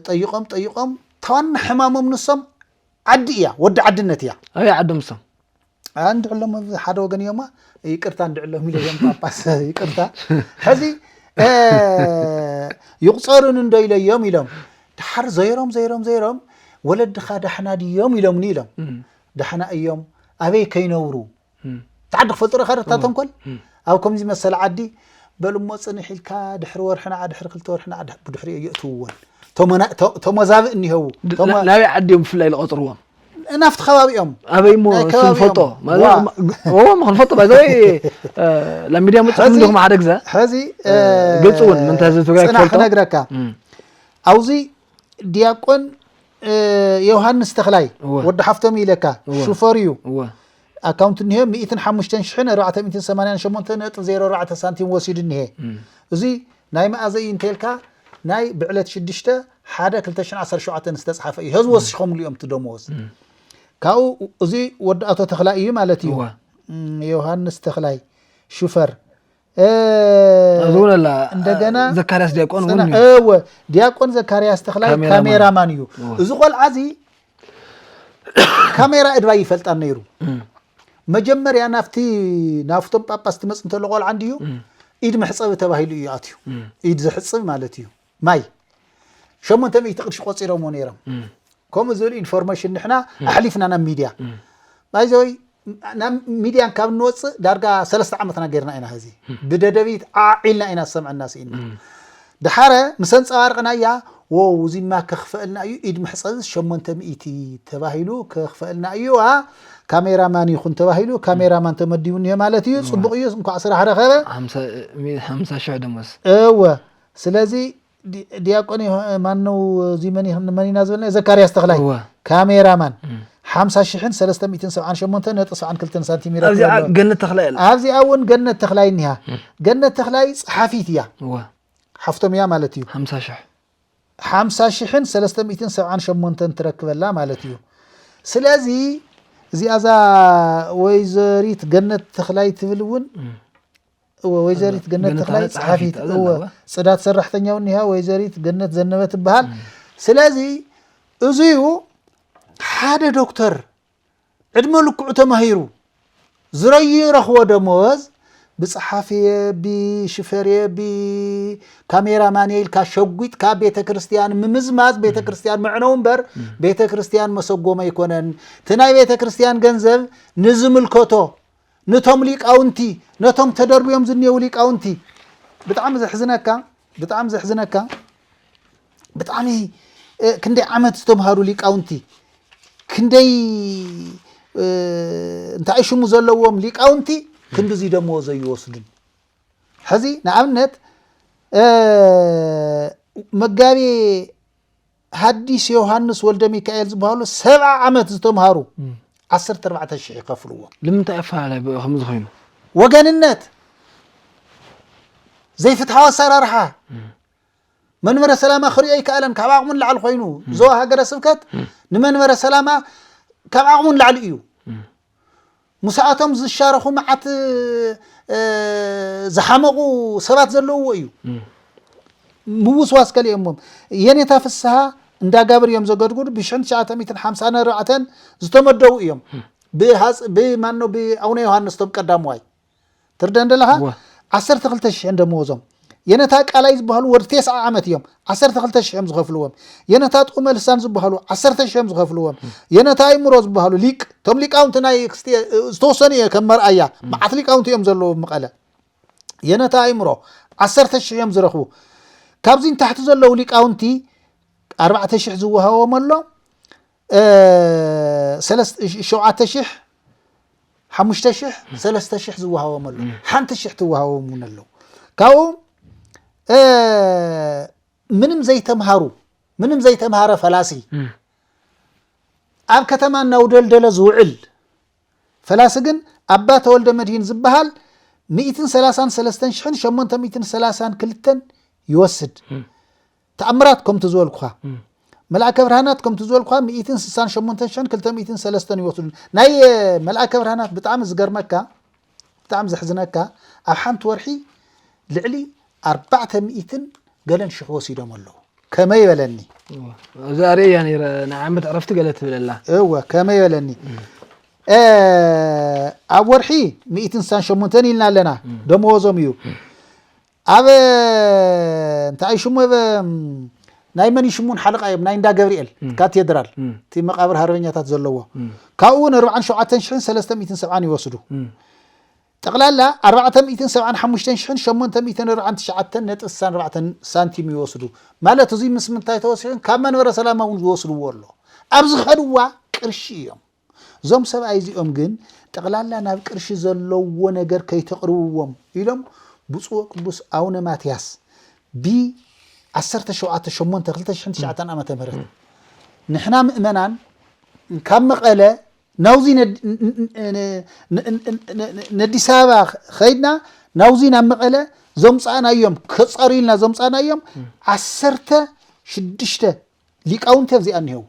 ጠይቆም ጠይቆም ታዋና ሕማሞም ንሶም ዓዲ እያ ወዲ ዓድነት እያ ኣበይ ዓዶም እሶም እንድዕሎም ኣብ ሓደ ወገን እዮማ ይቅርታ እንድዕሎም ኢለ እዮም ጳጳስ ይቅርታ ሕዚ እ፣ ይቁፀሩን እንዶ ኢለ እዮም ኢሎም ድሓር ዘይሮም ዘይሮም ዘይሮም ወለድኻ ዳሕና ድዮም ኢሎምኒ ኢሎም ዳሕና እዮም ኣበይ ከይነብሩ እቲ ዓዲ ክፈልጦ ዶ ኢኻ እታ ተንኮል ኣብ ከምዚ መሰለ ዓዲ በል እሞ ጽንሕ ኢልካ ድሕሪ ወርሒ ንዓ ድሕሪ ክልተ ወርሒ ንዓ ብድሕሪኡ የእትውዎን ተሞዛብእ እኒሀው ናበይ ዓዲ እዮም ብፍላይ ዝቐፅርዎም ናብቲ ከባቢ እዮም ኣበይ እሞ ክንፈልጦ ክንፈልጦ ባይዘወይ ናብ ሚድያ ምፅሑ እንዲኹም ሓደ ግዘ ሕዚ ግልፂ እውን ምንታይ ህዝቢ ትግራይ ክፈልጦ ክነግረካ ኣብዚ ዲያቆን ዮሃንስ ተክላይ ወዲ ሓፍቶም ኢለካ ሹፈር እዩ ኣካውንት እኒሀ 105488.04 ሳንቲም ወሲዱ እኒሀ እዚ ናይ መኣዘ እዩ እንተልካ ናይ ብዕለት 6 ሓደ 217 ዝተፅሓፈ እዩ ህዝቢ ወሲኾምሉ እዮም እቲ ደመወዝ ካብኡ እዚ ወዲ ኣቶ ተክላይ እዩ ማለት እዩ ዮሃንስ ተክላይ ሹፈር እንደገና ዘካርያስ ዲያቆን እወ ዲያቆን ዘካርያስ ተክላይ ካሜራማን እዩ እዚ ቆልዓ እዚ ካሜራ እድባ ይፈልጣ ነይሩ መጀመርያ ናብቲ ናብቶም ጳጳስ ትመፅ እንተሎ ቆልዓ እንድዩ ኢድ መሕፀቢ ተባሂሉ እዩ ኣትዩ ኢድ ዘሕፅብ ማለት እዩ ማይ ሸሞንተ ሚእቲ ቅርሺ ቆፂሮምዎ ነይሮም ከምኡ ዝብል ኢንፎርሜሽን ንሕና ኣሕሊፍና ናብ ሚድያ ባይዘወይ ናብ ሚድያን ካብ እንወፅእ ዳርጋ ሰለስተ ዓመትና ገይርና ኢና ህዚ ብደደቢት ዓዒልና ኢና ዝሰምዐና ስኢና ድሓረ ምስ ኣንፀባርቕናያ ወው እዚማ ከኽፈእልና እዩ ኢድ መሕፀቢ ሸሞንተ ሚእቲ ተባሂሉ ከኽፈእልና እዩ ዋ ካሜራማን ይኹን ተባሂሉ ካሜራማን ተመዲቡ እኒሀ ማለት እዩ ፅቡቕ እዩ እንኳዕ ስራሕ ረኸበ ሓምሳ ሽሕ ደሞዝ እወ ስለዚ ድያቆን ማነው እዚ መን ኢና ዝበልና ዘካርያስ ተኽላይ እወ ካሜራ ማን እም። ሓምሳ ሽሕን ሰለስተ ሚእትን ሰብዓን ሸሞንተ ነጥቢ ሰብዓን ክልተን ሳንቲም ይረክብ ኣብዚኣ ኣሎ ገነት ተኽላይ ኣላ ኣብዚኣ እውን ገነት ተኽላይ እኒሃ ገነት ተኽላይ ፀሓፊት እያ እወ ሓፍቶም እያ ማለት እዩ ሓምሳ ሽሕ ሓምሳ ሽሕን ሰለስተ ሚእትን ሰብዓን ሸሞንተን ትረክበላ ማለት እዩ ስለዚ እዚኣ እዛ ወይዘሪት ገነት ተኽላይ ትብል እውን እም። እወ ወይዘሪት ገነት ገነት ተኽላይ ተኽላይ ጸሓፊት ጸሓፊት እወ እወ። ጽዳት ሰራሕተኛ እውን እኒሃ ወይዘሪት ገነት ዘነበ ትበሃል ስለዚ እዙዩ ሓደ ዶክተር ዕድመ ልክዑ ተማሂሩ ዝረዩ ረኽቦ ደመወዝ ብጸሓፍየ ብሽፈርየ ብካሜራማንየ ኢልካ ሸጒጥካ ቤተ ክርስቲያን ምምዝማዝ ቤተ ክርስቲያን መዕነው እምበር ቤተ ክርስቲያን መሰጎም ኣይኮነን እቲ ናይ ቤተ ክርስቲያን ገንዘብ ንዝምልከቶ ንቶም ሊቃውንቲ ነቶም ተደርብዮም ዝኔዉ ሊቃውንቲ ብጣዕሚ ዘሕዝነካ ብጣዕሚ ዘሕዝነካ ብጣዕሚ ክንደይ ዓመት ዝተምሃሩ ሊቃውንቲ ክንደይ እንታይ ሽሙ ዘለዎም ሊቃውንቲ ክንዲዙይ ደመዎ ዘይወስዱን ሕዚ ንኣብነት መጋቤ ሃዲስ ዮሃንስ ወልደሚካኤል ዝበሃሉ ሰብዓ ዓመት ዝተምሃሩ ዓሰርተ ኣርባዕተ ሽሕ ይኸፍልዎ። ንምንታይ ኣፈላላይ ብኡ ከምዚ ኮይኑ? ወገንነት፣ ዘይፍትሓዊ ኣሰራርሓ፣ መንበረ ሰላማ ክሪኦ ኣይከኣለን ካብ ዓቕሙ ንላዕሊ ኮይኑ ዞባ ሃገረ ስብከት ንመንበረ ሰላማ ካብ ዓቕሙ ንላዕሊ እዩ ምሳኣቶም ዝሻረኹ መዓት ዝሓመቑ ሰባት ዘለውዎ እዩ ምውስዋስ ከሊኦሞም የኔታ ፍስሃ እንዳጋብር እዮም ዘገድጉዱ ብ1950 ነርባዕተን ዝተመደቡ እዮም ብማኖ ብኣቡነ ዮሃንስ ቶም ቀዳምዋይ ትርደእ እንደለኻ እወ። ዓሰርተ ክልተ ሽሕን ደመወዞም የነታ ቃላይ ዝበሃሉ ወድ ቴስዓ ዓመት እዮም ዓሰርተ ክልተ ሽሕ እዮም ዝኸፍልዎም የነታ ጥዑመ ልሳን ዝበሃሉ ዓሰርተ ሽሕ እዮም ዝኸፍልዎም የነታ ኣይምሮ ዝበሃሉ ሊቅ እቶም ሊቃውንቲ ናይ ክስቲ ዝተወሰኑ እየ ከም መርኣያ መዓት ሊቃውንቲ እዮም ዘለዎም መቐለ የነታ ኣይምሮ ዓሰርተ ሽሕ እዮም ዝረኽቡ ካብዚ ንታሕቲ ዘለዉ ሊቃውንቲ ኣርባዕተ ሽሕ ዝወሃቦም ኣሎ ሸውዓተ ሽሕ ሓሙሽተ ሽሕ ሰለስተ ሽሕ ዝወሃቦም ኣሎ ሓንቲ ሽሕ ትወሃቦም እውን ኣለዉ ካብኦም ምንም ዘይተምሃሩ ምንም ዘይተምሃረ ፈላሲ ኣብ ከተማ እናውደልደለ ዝውዕል ፈላሲ ግን ኣባ ተወልደ መድሂን ዝበሃል ሚእትን ሰላሳን ሰለስተን ሽሕን ሸሞንተ ሚእትን ሰላሳን ክልተን ይወስድ ተኣምራት ከምቲ ዝበልኩኻ መልኣከ ብርሃናት ከምቲ ዝበልኩኻ ሚእትን ስሳን ሸሞንተን ሽሕን ክልተ ሚእትን ሰለስተን ይወስዱ ናይ መልኣከ ብርሃናት ብጣዕሚ ዝገርመካ ብጣዕሚ ዘሕዝነካ ኣብ ሓንቲ ወርሒ ልዕሊ ኣርባዕተ ሚእትን ገለን ሽሕ ወሲዶም ኣለዉ ከመይ በለኒ እዛ ኣርእያ ነረ ናይ ዓመት ዕረፍቲ ገለ ትብለላ እወ ከመይ በለኒ ኣብ ወርሒ ሚእትን ሳን ሸሞንተን ኢልና ኣለና ደመወዞም እዩ ኣብ እንታይ እዩ ሽሙ ብ ናይ መን እዩ ሽሙ ን ሓለቓ እዮም ናይ እንዳ ገብርኤል ካቴድራል እቲ መቓብር ሃርበኛታት ዘለዎ ካብኡ እውን ኣርባዓን ሸውዓተን ሽሕን ሰለስተ ሚእትን ሰብዓን ይወስዱ ጠቕላላ ኣርባዕተ ሚእትን ሰብዓን ሓሙሽተን ሽሕን ሸሞንተ ሚእትን ኣርባዓን ትሽዓተን ነጥቢ ስሳን ኣርባዕተን ሳንቲም ይወስዱ ማለት እዙይ ምስ ምንታይ ተወሲኹን ካብ መንበረ ሰላማ እውን ዝወስድዎ ኣሎ ኣብ ዝኸድዋ ቅርሺ እዮም እዞም ሰብኣይ እዚኦም ግን ጠቕላላ ናብ ቅርሺ ዘለዎ ነገር ከይተቕርብዎም ኢሎም ብፁዕ ወቅዱስ ኣውነ ማትያስ ብ ዓሰርተ ሸውዓተ ሸሞንተ ክልተ ሽሕን ትሽዓተን ዓመተ ምህረት ንሕና ምእመናን ካብ መቐለ ናብዚ ነዲስ ኣበባ ከይድና ናብዚ ናብ መቐለ ዘምፃእናዮም ከፀርዩልና ዘምፃእናዮም ዓሰርተ ሽዱሽተ ሊቃውንቲ ኣብዚኣ እኒሀው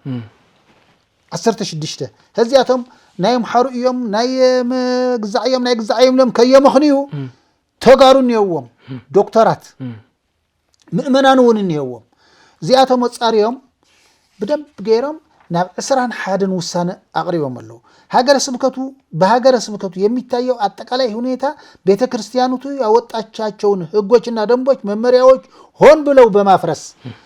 ዓሰርተ ሽዱሽተ ህዚኣቶም ናይ ኣምሓሩ እዮም ናይ ግዛዕ እዮም ናይ ግዛዕ እዮም ኢሎም ከየመኽንዩ ተጋሩ እኒሄዎም ዶክተራት ምእመናን እውን እኒሄዎም እዚኣቶም ኣፃሪዮም ብደንብ ገይሮም ናብ ዕስራን ሓደን ውሳነ ኣቕሪቦም ኣለዉ ሃገረ ስብከቱ በሃገረ ስብከቱ የሚታየው አጠቃላይ ሁኔታ ቤተ ክርስቲያኑቱ ያወጣቻቸውን ህጎችና ደንቦች መመሪያዎች ሆን ብለው በማፍረስ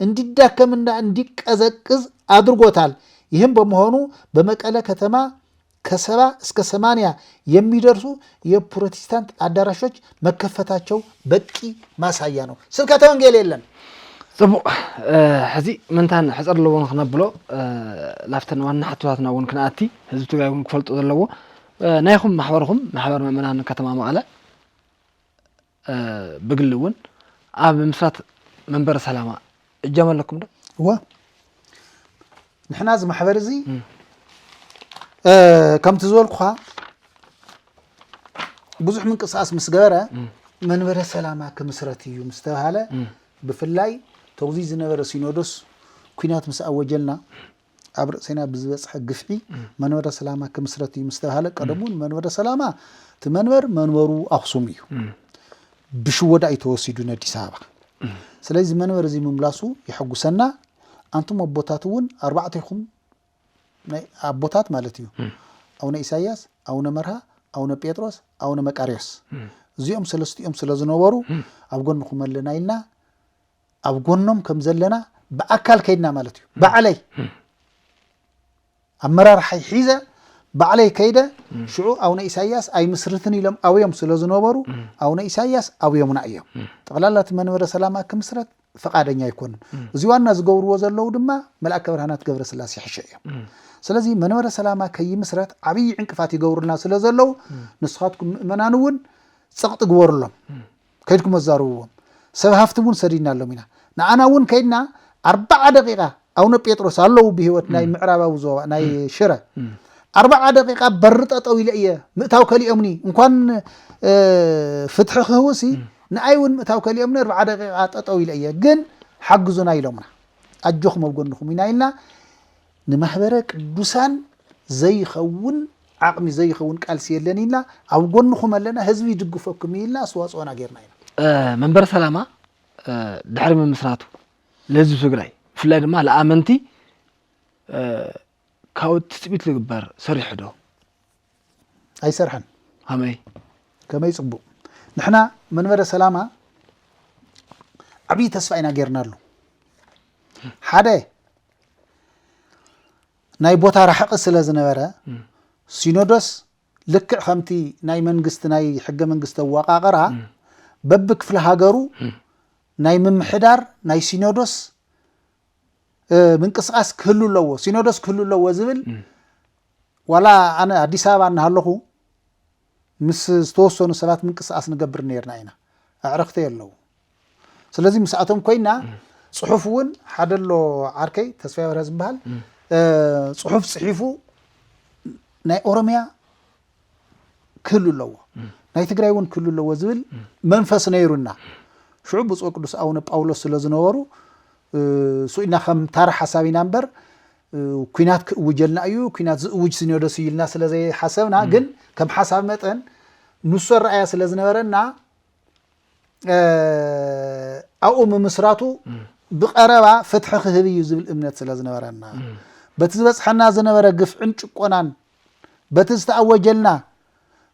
እንዲዳከምና እንዲቀዘቅዝ ኣድርጎታል። ይህም በመሆኑ በመቀለ ከተማ ከሰባ እስከ ሰማንያ የሚደርሱ የፕሮቲስታንት ኣዳራሾች መከፈታቸው በቂ ማሳያ ነው። ስብከተ ወንጌል የለን። ጽቡቕ ሕዚ ምንታን ሕጽር ኣለዎ ንክነብሎ ላፍተን ዋና ሕቶታትና እውን ክንኣቲ ህዝቢ ትግራይ እውን ክፈልጦ ዘለዎ ናይኹም ማሕበርኹም ማሕበር መእመናን ከተማ መቐለ ብግሊ እውን ኣብ ምምስራት መንበረ ሰላማ እጃም ኣለኩም ዶ? እወ ንሕና እዚ ማሕበር እዚ ከምቲ ዝበልኩኻ ብዙሕ ምንቅስቃስ ምስ ገበረ መንበረ ሰላማ ክምስረት እዩ ምስ ተባሃለ ብፍላይ ተዚ ዝነበረ ሲኖዶስ ኩናት ምስ ኣወጀልና ኣብ ርእሲና ብዝበፅሐ ግፍዒ መንበረ ሰላማ ክምስረት እዩ ምስ ተባሃለ ቀደም እውን መንበረ ሰላማ እቲ መንበር መንበሩ ኣኽሱም እዩ ብሽወዳ እዩ ተወሲዱ ነዲስ ኣበባ ስለዚ መንበር እዚ ምምላሱ የሐጉሰና ኣንቱም ኣቦታት እውን ኣርባዕቴኹም ናይ ኣቦታት ማለት እዩ ኣቡነ ኢሳያስ ኣቡነ መርሃ ኣቡነ ጴጥሮስ ኣቡነ መቃርዮስ እዚኦም ሰለስቲኦም ስለ ዝነበሩ ኣብ ጎንኹም ኣለና ኢልና ኣብ ጎኖም ከም ዘለና ብኣካል ከይድና ማለት እዩ ባዕለይ ኣመራርሓይ ሒዘ ባዕለይ ከይደ ሽዑ ኣቡነ ኢሳያስ ኣይምስርትን ኢሎም ኣብዮም ስለ ዝነበሩ ኣቡነ ኢሳያስ ኣብዮምና እዮም ጠቕላላ እቲ መንበረ ሰላማ ክምስረት ፈቃደኛ ኣይኮኑን እዚ ዋና ዝገብርዎ ዘለዉ ድማ መልኣከ ብርሃናት ገብረ ስላሴ ሕሸ እዮም ስለዚ መንበረ ሰላማ ከይምስረት ዓብዪ ዕንቅፋት ይገብሩልና ስለ ዘለዉ ንስኻትኩም ምእመናን እውን ፀቕጢ ግበሩሎም ከይድኩም ኣዛርብዎም ሰብ ሃፍቲ እውን ሰዲድናሎም ኢና ንዓና እውን ከይድና ኣርባዓ ደቂቃ ኣውነ ጴጥሮስ ኣለዉ ብሂወት ናይ ምዕራባዊ ዞባ ናይ ሽረ ኣርባዓ ደቂቃ በሪ ጠጠው ኢለ እየ ምእታው ከሊኦምኒ እንኳን ፍትሒ ክህውሲ ንኣይ እውን ምእታው ከሊኦምኒ ኣርባዓ ደቂቃ ጠጠው ኢለ እየ ግን ሓግዙና ኢሎምና ኣጆኹም ኣብ ጎንኹም ኢና ኢልና ንማሕበረ ቅዱሳን ዘይኸውን ዓቕሚ ዘይኸውን ቃልሲ የለን ኢልና ኣብ ጎንኹም ኣለና ህዝቢ ይድግፈኩም እዩ ኢልና ኣስተዋፅኦና ጌርና ኢና። መንበረ ሰላማ ድሕሪ ምምስራቱ ንህዝቢ ትግራይ ብፍላይ ድማ ለኣመንቲ ካብኡ ትፅቢት ዝግበር ሰሪሑ ዶ? ኣይሰርሐን ኣመይ ከመይ ጽቡቅ ንሕና መንበረ ሰላማ ዓብዪ ተስፋ ኢና ጌርናሉ ሓደ ናይ ቦታ ራሕቂ ስለ ዝነበረ ሲኖዶስ ልክዕ ከምቲ ናይ መንግስቲ ናይ ሕገ መንግስቲ ኣወቃቅራ በቢ ክፍለ ሃገሩ ናይ ምምሕዳር ናይ ሲኖዶስ ምንቅስቃስ ክህሉ ኣለዎ ሲኖዶስ ክህሉ ኣለዎ ዝብል ዋላ ኣነ ኣዲስ ኣበባ እናሃለኹ ምስ ዝተወሰኑ ሰባት ምንቅስቓስ ንገብር ነርና ኢና። ኣዕርኽተይ ኣለዉ። ስለዚ ምስኣቶም ኮይና ፅሑፍ እውን ሓደ ኣሎ ዓርከይ ተስፋይ በርሀ ዝበሃል ፅሑፍ ፅሒፉ ናይ ኦሮሚያ ክህሉ ኣለዎ ናይ ትግራይ እውን ክህሉ ኣለዎ ዝብል መንፈስ ነይሩና ሽዑ ብፁዕ ቅዱስ ኣቡነ ጳውሎስ ስለ ዝነበሩ ስኢልና ከም ታራ ሓሳብ ኢና እምበር ኩናት ክእውጀልና እዩ ኩናት ዝእውጅ ሲኖዶስ እዩ ኢልና ስለ ዘይሓሰብና ግን ከም ሓሳብ መጠን ንሶ ረኣያ ስለ ዝነበረና ኣብኡ ምምስራቱ ብቀረባ ፍትሒ ክህብ እዩ ዝብል እምነት ስለ ዝነበረና በቲ ዝበፅሐና ዝነበረ ግፍዕን ጭቆናን በቲ ዝተኣወጀልና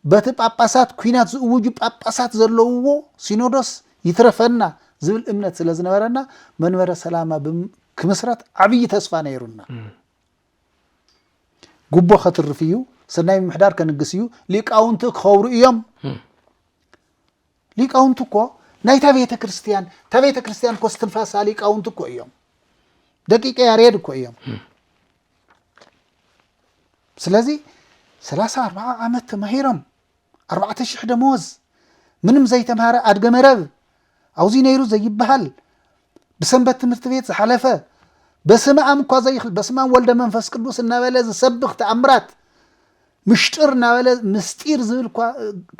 በቲ ጳጳሳት ኲናት ዝእውጁ ጳጳሳት ዘለውዎ ሲኖዶስ ይትረፈና ዝብል እምነት ስለ ዝነበረና መንበረ ሰላማ ክምስረት ዓብዪ ተስፋ ነይሩና። ጉቦ ከትርፍ እዩ፣ ሰናይ ምምሕዳር ከንግስ እዩ፣ ሊቃውንቲ ክኸብሩ እዮም ሊቃውንቲ እኮ ናይታ ቤተ ክርስቲያን እታ ቤተ ክርስቲያን እኮ እስትንፋሳ ሊቃውንቲ እኮ እዮም ደቂቀ ያሬድ እኮ እዮም ስለዚ ሰላሳ ኣርባዓ ዓመት ተማሂሮም ኣርባዕተ ሽሕ ደመወዝ ምንም ዘይተምሃረ ኣድገ መረብ ኣውዚ ነይሩ ዘይበሃል ብሰንበት ትምህርቲ ቤት ዝሓለፈ በስመ ኣም እኳ ዘይኽል በስመ ኣም ወልደ መንፈስ ቅዱስ እናበለ ዝሰብኽ ተኣምራት ምሽጥር እናበለ ምስጢር ዝብል እኳ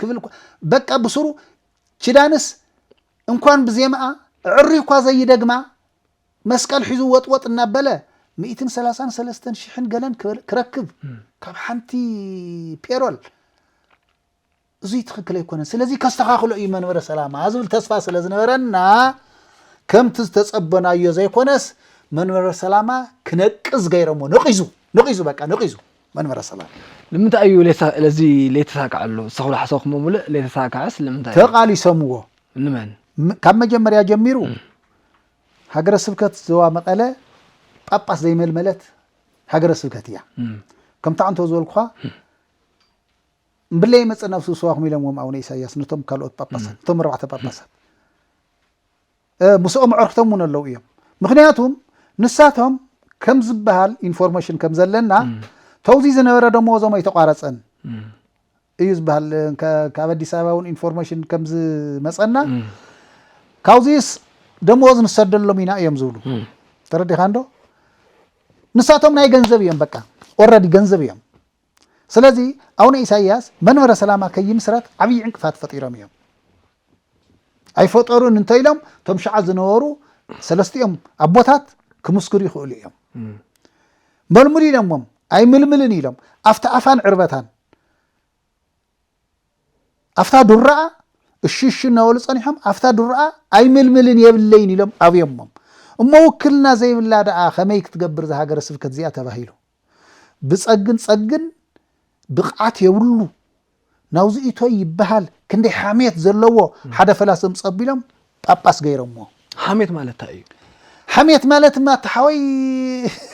ክብል እኳ በቃ ብስሩ ኪዳንስ እንኳን ብዜማኣ ዕሪ እኳ ዘይደግማ መስቀል ሒዙ ወጥወጥ እናበለ ሚእትን ሰላሳን ሰለስተን ሽሕን ገለን ክበል- ክረክብ ካብ ሓንቲ ፔሮል እዙይ ትኽክል ኣይኮነን ስለዚ ከስተኻኽሎ እዩ መንበረ ሰላማ ዝብል ተስፋ ስለ ዝነበረና ከምቲ ዝተፀበናዮ ዘይኮነስ መንበረ ሰላማ ክነቅዝ ገይረሞ ነቂዙ ነቂዙ በቃ ነቂዙ መንበረ ሰላማ ንምንታይ እዩ ለዚ ለይተሳክዐሉ ዝተኽብሎ ሓሰብኩሞ ሙሉእ ለይተሳክዐስ ንምንታይ ተቃሊሰምዎ ንመን ካብ መጀመርያ ጀሚሩ ሃገረ ስብከት ዘዋ መቐለ ጳጳስ ዘይመልመለት ሃገረ ስብከት እያ ከምታ እንተ ዝበልኩኻ ብለይ መጸ ናብ ስውስዋኩም ኢሎምዎም ኣቡነ ኢሳይያስ ነቶም ካልኦት ጳጳሳት እቶም ኣርባዕተ ጳጳሳት ምስኦም ኣዕርክቶም እውን ኣለው እዮም ምክንያቱም ንሳቶም ከም ዝበሃል ኢንፎርሜሽን ከም ዘለና ተውዚ ዝነበረ ደመወዞም ኣይተቋረፀን እዩ ዝበሃል ካብ ኣዲስ ኣበባ እውን ኢንፎርሜሽን ከም ዝመፀና ካብዚስ ደመወዝ ንሰደሎም ኢና እዮም ዝብሉ ተረዲኻ እንዶ ንሳቶም ናይ ገንዘብ እዮም በቃ ኦረዲ ገንዘብ እዮም ስለዚ ኣውነ ኢሳይያስ መንበረ ሰላማ ከይምስረት ዓብይ ዕንቅፋት ፈጢሮም እዮም። ኣይፈጠሩን እንተኢሎም እቶም ሽዓ ዝነበሩ ሰለስቲኦም ኣቦታት ክምስክሩ ይኽእሉ እዮም። መልሙሉ ኢሎሞም ኣይምልምልን ኢሎም ኣብቲ ኣፋን ዕርበታን ኣብታ ዱራኣ እሺ እሺ እናበሉ ጸኒሖም ኣብታ ዱራኣ ኣይምልምልን የብለይን ኢሎም ኣብዮሞም እሞ ውክልና ዘይብላ ደኣ ከመይ ክትገብር ዝሃገረ ስብከት እዚኣ ተባሂሉ ብጸግን ጸግን ብቅዓት የብሉ ናውዚ ኢቶይ ይበሃል ክንደይ ሓሜት ዘለዎ ሓደ ፈላሲ ኣምጽ ኣቢሎም ጳጳስ ገይሮሞ። ሓሜት ማለት ታይ እዩ? ሓሜት ማለትማ እቲ ሓወይ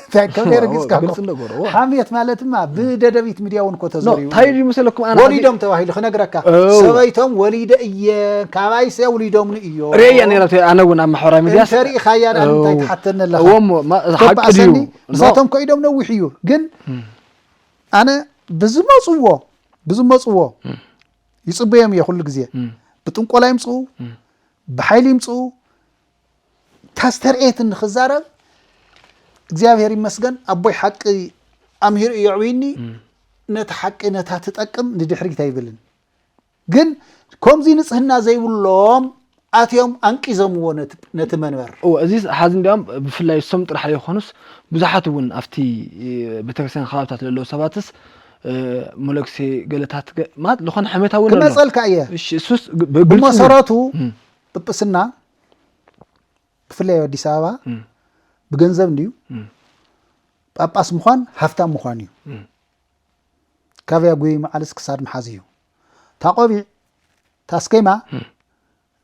እንታይ ከም ዘይረጊጽካ እኮ። ግልጺ ነገሩ፣ እወ። ሓሜት ማለትማ ብደደቢት ሚድያ እውን እኮ ተዘሪቡ ታይ ድዩ መሰለኩም ኣነ ወሊዶም ተባሂሉ ክነግረካ እው። ሰበይቶም ወሊደ እየ ካባይሰ ውሊዶምኒ እዮ ርእያ ነይራ እቲ ኣነ እውን ኣብ ማሕበራዊ ሚድያ እንተ ሪኢኻያ ድኣ እንታይ እው። ትሓተኒ ኣለኻ? እዎ እሞ ማ- እዛ ሓቂ ድዩ ተባእሰኒ ንሳቶም ኮ ኢዶም ነዊሕ እዩ ግን ኣነ ብዝመፅዎ ብዝመፅዎ ይፅበዮም እየ ኩሉ ግዜ ብጥንቆላ ይምፅኡ ብሓይሊ ይምፅኡ ታስተርእየትን ንክዛረብ እግዚኣብሔር ይመስገን ኣቦይ ሓቂ ኣምሂሩ እዩ ኣዕብይኒ ነቲ ሓቂ ነታ ትጠቅም ንድሕሪት ኣይብልን ግን ከምዚ ንጽህና ዘይብሎም ኣትዮም ኣንቂዘምዎ ነቲ መንበር። እወ እዚ ሐዚ እንዲያውም ብፍላይ እሶም ጥራሕ ዘይኮኑስ ብዙሓት እውን ኣብቲ ቤተክርስትያን ከባብታት ለለዉ ሰባትስ መለክሴ ገለታት ማለት ዝኾነ ሕሜታ እውን ክመፀልካ እየ እሱስ ብመሰረቱ ጵጵስና ብፍላይ ኣብ ኣዲስ ኣበባ ብገንዘብ እንድዩ ጳጳስ ምዃን ሃፍታም ምዃን እዩ ካቪያ ጉይ መዓልስ ክሳድ ምሓዝ እዩ እታ ቆቢዕ እታ ስኬማ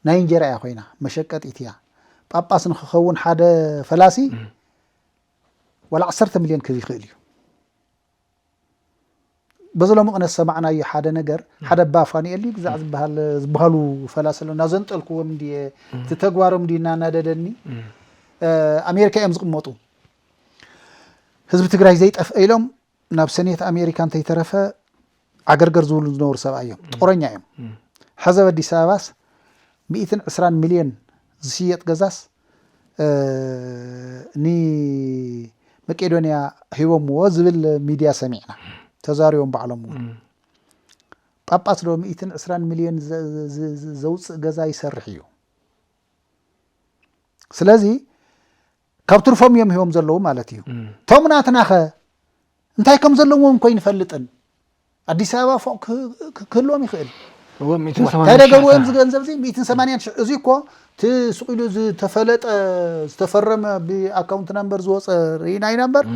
ናይ እንጀራ እያ ኮይና መሸቀጢት እያ ጳጳስ ንክኸውን ሓደ ፈላሲ ዋላ ዓሰርተ ሚልዮን ክብ ይኽእል እዩ በዚ ሎሚ ቅነ ዝሰማዕናዮ ሓደ ነገር ሓደ ኣባ ፋኑኤል ድዩ ግዛዕ ዝበሃል ዝበሃሉ ፈላሲ ኣሎ እናዘንጠልክዎም እንድየ እቲ ተግባሮም እንድዩ እናናደደኒ ኣሜሪካ እዮም ዝቕመጡ ህዝቢ ትግራይ ዘይጠፍአ ኢሎም ናብ ሰኔት ኣሜሪካ እንተይተረፈ ዓገርገር ዝብሉ ዝነበሩ ሰብኣይ እዮም። ጦረኛ እዮም። ሕዚ ኣብ ኣዲስ ኣበባስ ሚእትን ዕስራን ሚልዮን ዝሽየጥ ገዛስ ንመቄዶንያ ሂቦምዎ ዝብል ሚድያ ሰሚዕና ተዛሪቦም ባዕሎም እውን ጳጳስ ዶ ሚእትን ዕስራን ሚልዮን ዘውፅእ ገዛ ይሰርሕ እዩ ስለዚ ካብ ትርፎም እዮም ሂቦም ዘለዉ ማለት እዩ እቶም ናትናኸ እንታይ ከም ዘለዎም እኮ ይንፈልጥን ኣዲስ ኣበባ ፎቅ ክህልዎም ይኽእል እንታይ ደገብርዎ እዮም ዝገንዘብ እዚ ሚእትን ሰማንያን ሽሕ እዚ እኮ እቲ ስቂሉ ዝተፈለጠ ዝተፈረመ ብኣካውንት ናምበር ዝወፀ ርኢና ኢና እምበር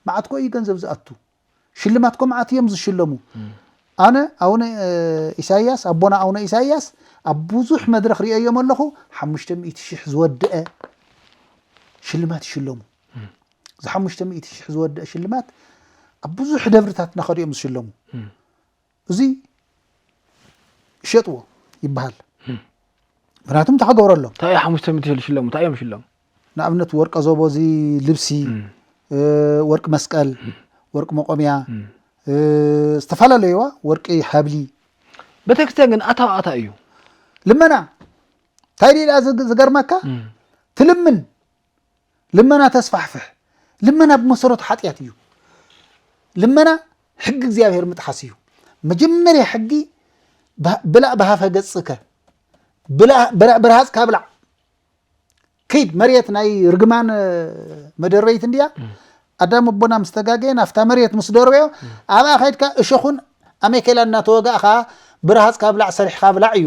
መዓት ኮ እዩ ገንዘብ ዝኣቱ ሽልማት ኮምዓት እዮም ዝሽለሙ ኣነ ኣውነ ኢሳያስ ኣቦና ኣውነ ኢሳያስ ኣብ ብዙሕ መድረኽ ሪኦዮም ኣለኹ ሓሙሽተ ሚእቲ ሽሕ ዝወድአ ሽልማት ይሽለሙ እዚ ሓሙሽተ ሚእቲ ሽሕ ዝወድአ ሽልማት ኣብ ብዙሕ ደብርታት እናኸዱ እዮም ዝሽለሙ እዚ ሸጥዎ ይበሃል ምክንያቱ እንታይ ክገብረሎም እንታይ እዩ ሓሙሽተ ሚእቲ ሽለሙ እንታይ እዮም ሽለሙ ንኣብነት ወርቀ ዞቦ እዚ ልብሲ ወርቂ መስቀል ወርቂ መቆምያ ዝተፈላለዩዋ ወርቂ ሃብሊ ቤተክርስትያን ግን ኣታ ኣታ እዩ ልመና እንታይ ድኣ ዝገርመካ ትልምን ልመና ተስፋሕፍሕ። ልመና ብመሰረቱ ሓጢኣት እዩ። ልመና ሕጊ እግዚኣብሔር ምጥሓስ እዩ። መጀመርያ ሕጊ ብላእ ብሃፈ ገጽከ ብርሃጽካ ብላዕ ክይድ መሬት ናይ ርግማን መደረይት እንድያ ኣዳም ኣቦና ምስ ተጋገየ ናብታ መሬት ምስ ደርበዮ ኣብኣ ከድካ እሸኹን ኣሜኬላ እናተወጋእኻ ብርሃጽካ ብላዕ ሰሪሕካ ብላዕ እዩ